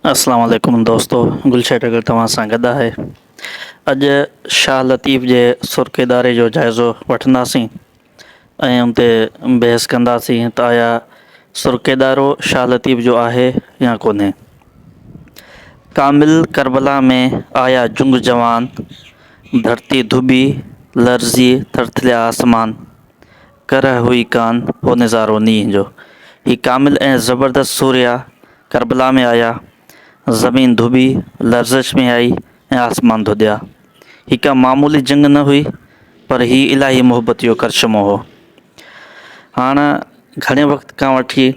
اسلام عليڪم دوستو گلشير ڊگر توهان سان گڏ آهي اڄ شاهه لطيف جي سرخ اداري جو جائزو وٺنداسين ۽ ان تي بحث ڪنداسين ته آيا سرخ ادارو شاهه لطيف جو آهي يا ڪونهي ڪامل کربلا ۾ آيا جنگ جوان ڌرتي ڌوٻي لرزي ٿرٿليا آسمان ڪره هئي ڪان هو نظارو نينهن جو. هي ڪامل ۽ زبردست سوريا ڪربلا ۾ آيا، زمين ڌوٻي، لرزش ۾ آئي ۽ آسمان ڌوڏيا. هي ڪا معمولي جنگ نه هئي، پر هي الاهي محبت جو ڪرشمو هو. هاڻ گهڻي وقت کان وٺي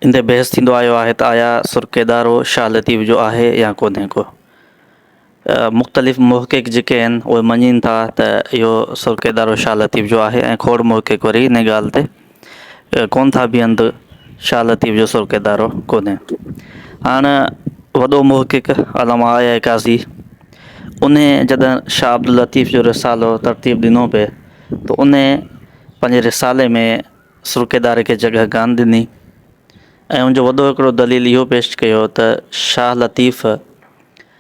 ان تي بحث ٿيندو آيو آهي ته آيا سرڪيدارو شاهه لطيف جو آهي يا ڪونهي ڪو؟ مختلف محقق جيڪي آهن اهي مڃين ٿا ته اهو سرڪي ادارو شاهه لطيف جو آهي ۽ کوڙ محقق وري ان ڳالهه تي ڪون ٿا بيهن ته شاهه لطيف جو سرڪي ادارو ڪونهي هاڻ وڏو محقق علامه آيا قاضي ان جڏهن شاهه عبداللطيف جو رسالو ترتيب ڏنو پئي ته ان پنهنجي رسالي ۾ سرڪي اداري کي جڳهه ڪان ڏني ۽ ان جو وڏو هڪڙو دليل اهو پيش ڪيو ته شاهه لطيف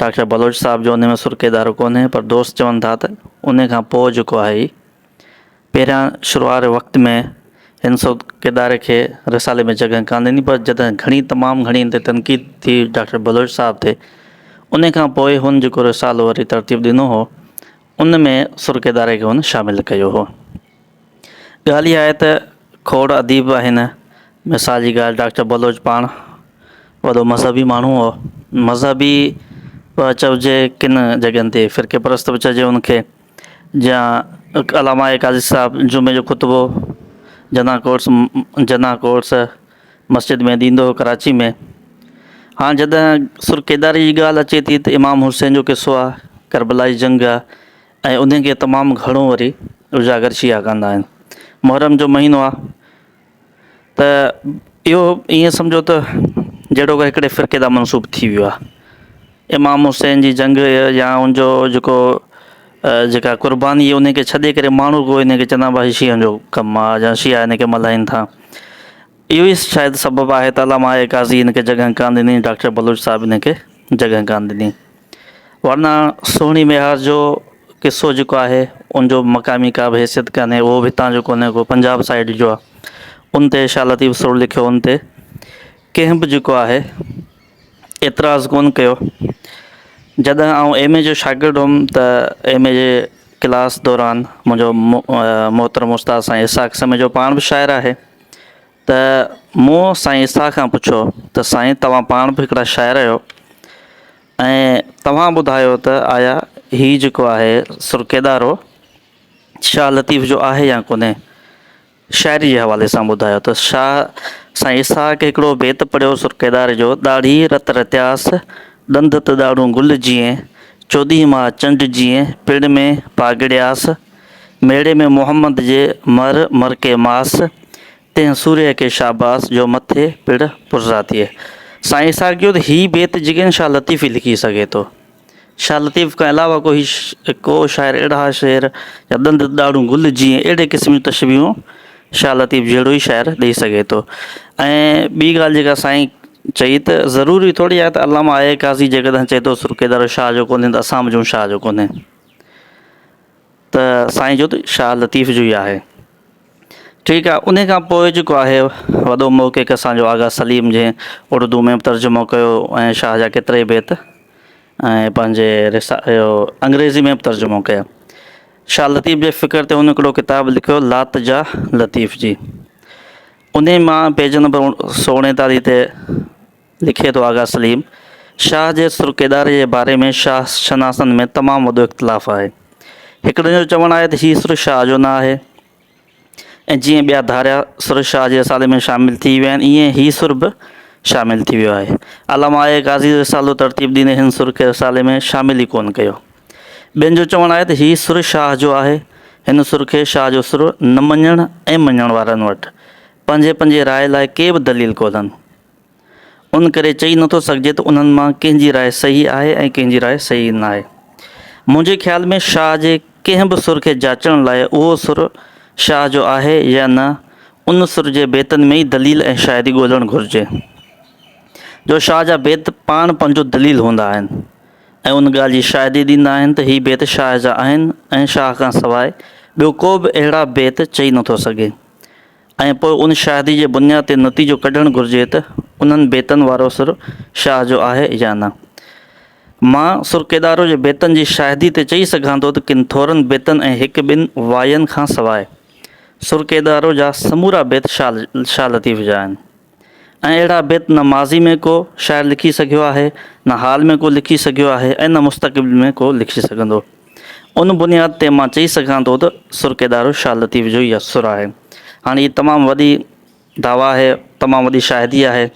ڊاڪٽر بلوچ صاحب جو ان ۾ سر ڪيدارو ڪونهي پر دوست چون ٿا ته ان کان پوء جيڪو آهي هي پهريان شروع واري وقت ۾ هن سر ڪيداري کي رسالي ۾ جڳهه ڪانه ڏني پر جڏهن گهڻي تمام گهڻي هن تي تنقيد ٿي ڊاڪٽر بلوچ صاحب تي ان کان پوء هن جيڪو رسالو وري ترتيب ڏنو هو ان ۾ سر ڪيداري کي هن شامل ڪيو هو. ڳالهه اها آهي ته کوڙ اديب آهن. مثال جي ڳالهه ڊاڪٽر بلوچ پاڻ وڏو مذهبي ماڻهو هو. مذهبي به چئجي ڪن جڳهين تي فرقي پرست به چئجي ان کي جيان علامه قاضي صاحب جمعي جو خطبو جناح ڪورس جناح ڪورس مسجد ۾ ڏيندو هو ڪراچي ۾ هاڻ جڏهن سرڪيداري جي ڳالهه اچي ٿي ته امام حسين جو قصو آهي ڪربلا جي جنگ آهي ۽ انهن کي تمام گهڻو وري اجاگر شيعا ڪندا آهن. محرم جو مهينو آ ته اهو ائين سمجهو ته جهڙوڪر هڪڙي فرقي دا منسوب ٿي ويو آ. امام حسين جي جنگ يا ان جو جيڪو جيڪا قرباني انهي کي ڇڏي ڪري ماڻهو ڪو انهي کي چوندا آهن هي شيعن جو ڪم آ يا شيعا انهي کي ملهائين ٿا. اهو ئي شايد سبب آهي ته علامه اعڪازي انهي کي جڳهه ڪانه ڏني ڊاڪٽر بلوچ صاحب انهي کي جڳهه ڪانه ڏني. ورنه سهڻي ميهار جو قصو جيڪو آهي ان جو مقامي ڪا به حيثيت ڪانهي اهو به هتان جو ڪونهي ڪو پنجاب سائيڊ جو آهي ان تي شاهه لطيف سرور لکيو ان تي ڪنهن به جيڪو آهي اعتراض ڪون ڪيو جڏهن آئون ايم اي جو شاگرد هوم ته ايم اي جي ڪلاس دوران منهنجو محترم استاد سائين اسحاق سميجو پاڻ به شاعر آهي ته مون سائين اسحاق کان پڇيو ته سائين توهان پاڻ به هڪڙا شاعر آهيو ۽ توهان ٻڌايو ته آيا هي جيڪو آهي سرڪيدارو شاهه لطيف جو آهي يا ڪونهي شاعري جي حوالي سان ٻڌايو ته شاهه سائين اسحاق هڪڙو بيت پڙهيو سرڪيدار جو ڏاڙهي رت رتياس ڏند ته ڏاڙهون گل جيئين چوڏهين ماهه چنڊ جيئين پڙ ۾ پاڳڙياس ميڙي ۾ محمد جي مھر مرڪي ماس، تنھن سوريء کي شاباس، جو مٿي پڙ پرزا ٿئي. سائين اسحاق چيو ته ھي بيت جيڪڏھن شاھ لطيف ئي لکي سگھي ٿو. شاھ لطيف کان علاوه ڪو ھي ڪو شاعر اھڙا شعر يا ڏند ڏاڙھون گل جيئن اھڙي قسم جون تشبيھون شاھ لطيف جھڙو ئي شاعر ڏئي سگھي ٿو ۽ ٻي ڳالھ جيڪا سائين چئي ته ضروري ٿورڙي آھي ته علامه آء قاضي جيڪڏھن چئي ٿو سرڪي دارو شاھ جو ڪونھي ته اسان به چئون شاھ جو ڪونھي. ته سائين جد شاهه لطيف جو ئي آهي. ٺيڪ آهي انهي کان پوء جيڪو آهي وڏو محقق اسان جو آغا سليم جنهن اڙدو ۾ به ترجمو ڪيو ۽ شاهه جا ڪيترائي بيت ۽ پنهنجي انگريزي ۾ به ترجمو ڪيا شاهه لطيف جي فڪر تي هن هڪڙو ڪتاب لکيو لات جا لطيف جي انهي مان پيج نمبر سؤ اڻيتاليهه تي لکي ٿو آغا سليم شاهه جي سرڪيداري جي باري ۾ شاهه شناسن ۾ تمام وڏو اختلاف آهي. هڪڙن جو چوڻ آهي ته هي سر شاهه جو نه آهي ۽ جيئن ٻيا ڌاريا سر شاهه جي رسالي ۾ شامل ٿي ويا آهن ايئن هي سر به شامل ٿي ويو آهي. علامه آء قاضي رسالو ترتيب ڏيندي هن سر کي رسالي ۾ شامل ئي ڪونه ڪيو. ٻين جو چوڻ آهي ته هي سر شاهه جو آهي. هن سر کي شاهه جو سر نه مڃڻ ۽ مڃڻ وارن وٽ پنهنجي پنهنجي راء لاء ڪي به دليل ڪونهن. ان ڪري چئي نٿو سگهجي ته انهن مان ڪنهن جي راء صحيح آهي ۽ ڪنهن جي راء صحيح ناهي. منهنجي خيال ۾ شاهه جي ڪنهن به سر کي جاچڻ لاء اهو سر شاهه جو آهي يا نه ان سر جي بيتن ۾ ئي دليل ۽ شاهدي ڳولهڻ گهرجي. جو شاهه جا بيت پاڻ پنهنجو دليل هوندا آهن ۽ ان ڳالهه جي شاهدي ڏيندا آهن ته هي بيت شاهه جا آهن ۽ شاهه کان سواء ٻيو ڪو به اهڙا بيت چئي نٿو سگهي ۽ پوء ان شاهدي جي بنياد تي نتيجو ڪڍڻ گهرجي ته انهن بيتن وارو سر شاهه جو آهي يا نه. مان سر ڪيڏارو جي بيتن جي شاهدي تي چئي سگهان ٿو ته ڪن ٿورن بيتن ۽ هڪ ٻن واين کان سواء سر ڪيڏارو جا سمورا بيت شاهه لطيف جا آهن. ۽ اهڙا بيت نه ماضي ۾ ڪو شاعر لکي سگهيو آهي، نه حال ۾ ڪو لکي سگهيو آهي ۽ نه مستقبل ۾ ڪو لکي سگهندو. ان بنياد تي مان چئي سگهان ٿو ته سرڪيدارو شاهه لطيف جو ئي اثر آهي. هاڻي هي تمام وڏي دعويٰ آهي، تمام وڏي شاهدي آهي.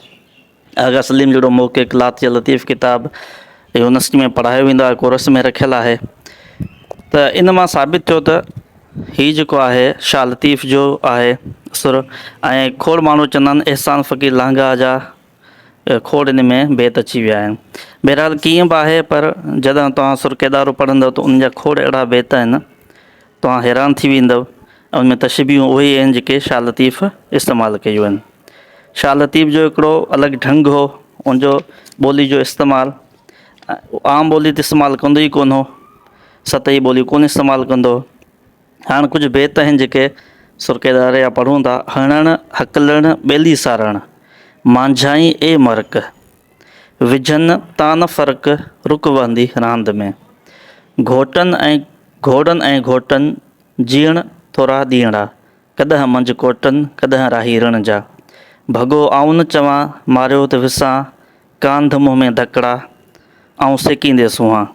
آغا سليم جهڙو محقق لاتيء لطيف ڪتاب يونيورسٽي ۾ پڙهايو ويندو آهي، ڪورس ۾ رکيل آهي ته ان مان ثابت ٿيو ته، هي جيڪو آهي شاهه لطيف جو آهي سر ۽ کوڙ ماڻهو چوندا آهن احسان فقير لانگاهه جا کوڙ ان ۾ بيت اچي ويا آهن بهرحال ڪيئن به آهي پر جڏهن توهان سر ڪيدارو پڙهندو ته ان جا کوڙ اهڙا بيت آهن توهان حيران ٿي ويندو ان ۾ تشبيهون اهي ئي آهن جيڪي شاهه لطيف استعمال ڪيون آهن شاهه لطيف جو هڪڙو الڳ ڍنگ هو ان جو ٻولي جو استعمال عام ٻولي ته استعمال ڪندو ئي ڪونه هو سطحي ٻوليون ڪونه استعمال ڪندو. هاڻ ڪجهه بيت آهن جيڪي سرڪي ڏاري جا پڙهون ٿا. هڻڻ هڪلڻ ٻيلي سارڻ، مانجهائين اي مرڪ، وجهن تان نه فرق، رڪ وهندي راند ۾، گهوٽن ۽ گهوڙن ۽ گهوٽن، جيئڻ ٿورا ڏينهڙا، ڪڏهن منجهه ڪوٽن، ڪڏهن راهي رڻ جا، ڀڳو آئون نه چوان، ماريو ته وسان، ڪانڌ منهن ۾ ڌڪڙا، آئون سيڪيندي سونهان.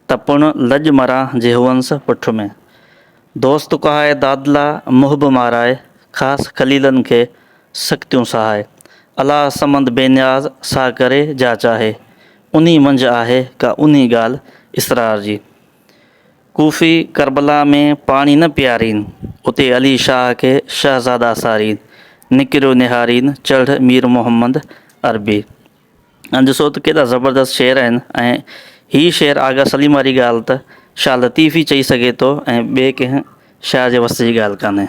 ته پڻ لڄ مران جي هئنس پٺ ۾. دوست ڪهائي دادلا محب مارائي، خاص خليلن کي سختيون سهائي. الاء سمند بي نياز سا ڪري جا چاهي، انهي منجهه آهي ڪا انهي ڳالهه اسرار جي. ڪوفي ڪربلا ۾ پاڻي نه پيارين، اتي علي شاهه کي شهزادا سارين، نڪريو نهارين چڙهه مير محمد عربي. ۽ ڏسو ته ڪيڏا زبردست شعر آهن ۽ هي شعر آغا سليم واري ڳالهه ته شاهه لطيف ئي چئي سگهي ٿو ۽ ٻئي ڪنهن شاعر جي وس جي ڳالهه ڪانهي.